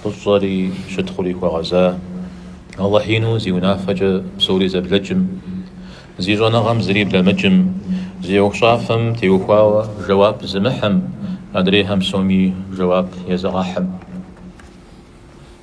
Фӏыщӏэри щытхъури хуэгъэза, Алыхь ину зи унафэкӏэ псори зэблэкӏым, зи щӏэныгъэм зыри блэмыкӏым, зи ӏуэхущӏафэм теухуауэ жэуап зымыхьым, адрейхэм псоми жэуап езыгъэхьым.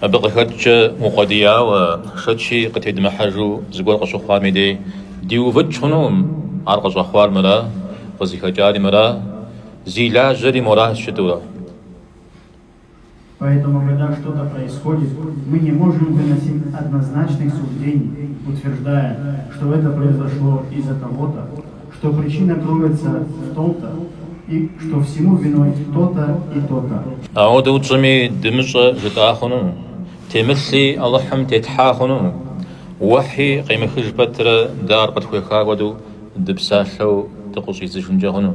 Абы къыхэкӏкӏэ укъуэдияуэ, шэчи къытедмыхьэжу зыгуэр къыщыхъуам и дей, диувыкӏ хъунукъым, ар къыщӏэхъуар мыра, къызыхэкӏари мыра, зи лажьэри мыра жытӏэурэ. Поэтому когда что-то происходит, мы не можем выносить однозначных суждений, утверждая, что это произошло из-за того-то, что причина кроется в том-то и что всему виной то-то и то-то. Ауэдэу тщӏыми дымыщӏэ жытӏа хъуну, темылъи Алыхьым тетхьа хъуну, уэхьи къемыхыж пэтрэ дэ ар къытхуеха хуэдэу дыпсалъэу дыкъыщӏидзыжынкӏэ хъуну.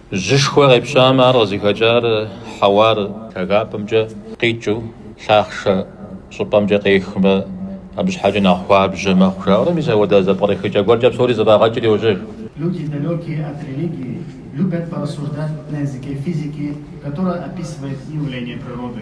Жьышхуэ къепщамэ, ар къызыхэкӏар хьэуар лъагапӏэмкӏэ къикӏыу лъахъшэ щӏыпӏэмкӏэ къехмэ, абы щхьэкӏэ нэхъ хуабжьэ мэхъу жаӏэурэ, мис апхуэдэ зэпкърыхыкӏэ гуэркӏэ псори зэфӏагъэкӏри йожьэж. Люди, далекие от религии, любят порассуждать на языке физики, которая описывает явления природы.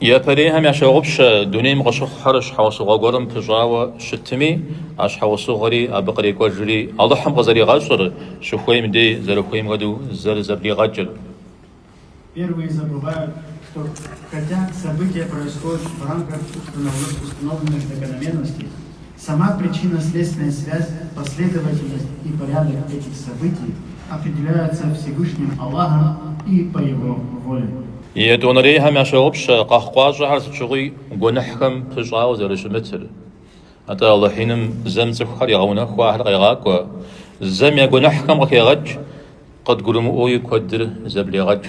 Япэрейхэм ящогъупщэ дунейм къыщыхъухэр щхьэусыгъуэ гуэрым пыщӏауэ щытми, а щхьэусыгъуэри абы кърекӏуэжри Алыхьым къызэригъэщӏыр, щыхуейм дей зэрыхуейм хуэдэу зэрызэблигъэкӏыр. Первые забывают, что хотя события происходят в рамках установленных закономерностей, Сама причинно-следственная связь, последовательность и порядок этих событий определяются Всевышним Аллахом и по Его воле. Етӏуанэрейхэм ящогъупщэ къэхъукъащӏэхэр сыт щыгъуи гуэныхьхэм пыщӏауэ зэрыщымытыр. Атӏэ Алыхь Иным зэм цӏыхухэр егъэунэхуу ахэр къегъакӏуэ, зэм я гуэныхьхэм къыхегъэкӏ, къыдгурымыӏуэуи куэдыр зэблегъэкӏ.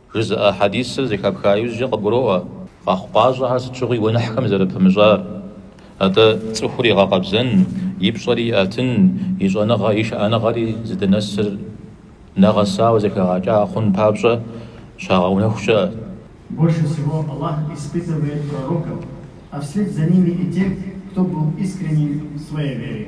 Жызыӏэ хьэдисыр зэхэпха иужькӏэ къыбгуроӏуэ. Къэхъукъащӏэхэр сыт щыгъуи гуэныхьхэм зэрыпымыщӏар. Атӏэ, цӏыхур игъэкъэбзэн, и пщӏэри иӏэтын, и щӏэныгъэ, и шыӏэныгъэри зыдынэсыр нэгъэсауэ зэхэгъэкӏа хъун папщӏэ щагъэунэху щыӏэ. Больше всего Аллах испытывает пророков, а вслед за ними и тех, кто был искренен в своей вере.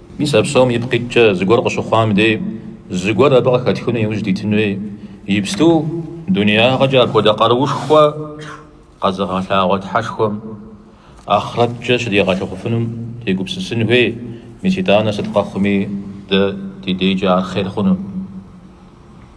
Мис а псом ипкъ иткӏэ зыгуэр къыщыхъуам дей, зыгуэр абы къыхэтхыну иужь дитын хуей. Ипсту, дунеягъэкӏэ апхуэдэ къаруушхуэ къэзыгъэлъагъуэ Тхьэшхуэм ахърэткӏэ щыдигъэлъагъуфынум тегупсысын хуей, мис итӏанэ сыт къэхъуми дэ ди дейкӏэ ар хъер хъуну.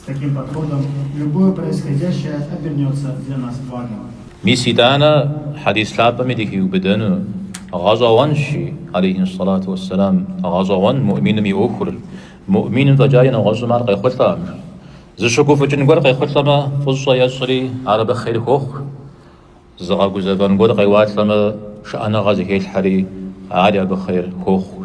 С таким подходом любое происходящее обернется для нас благом. Мис итӏанэ хьэдис лъапӏэми дыхиубыдэну гъэщӏэгъуэнщ жи, алейхи ссалату уэсселам, гъэщӏэгъуэн муӏминым и ӏуэхур, муӏминым фӏэкӏаи нэгъуэщӏым ар къехъулӏэм. Зыщыгуфӏыкӏын гуэр къехъулӏэмэ, фӏыщӏэ ещӏри, ар абы хъер хуохъу, зыгъэгузэвэн гуэр къеуалӏэмэ, шыӏэныгъэ зыхелъхьэри, ари абы хъер хуохъу.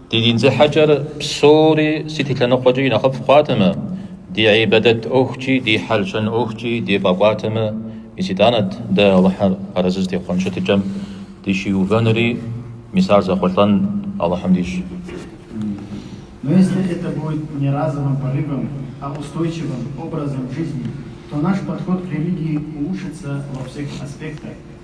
Ди дин зехьэкӏэр псори сыт и лъэныкъуэкӏи нэхъыфӏ хъуатэмэ, ди ӏибадэт ӏуэхукӏи ди хьэл-щэн ӏуэхукӏи дефӏэкӏуатэмэ, мис итӏанэт дэ Алыхьыр арэзы зытехъуэн щытыкӏэм дыщиувэнури, мис ар зэхъулӏэн Алыхьым дищӏ. Но если это будет не разовым порывом, а устойчивым образом жизни, то наш подход к религии улучшится во всех аспектах.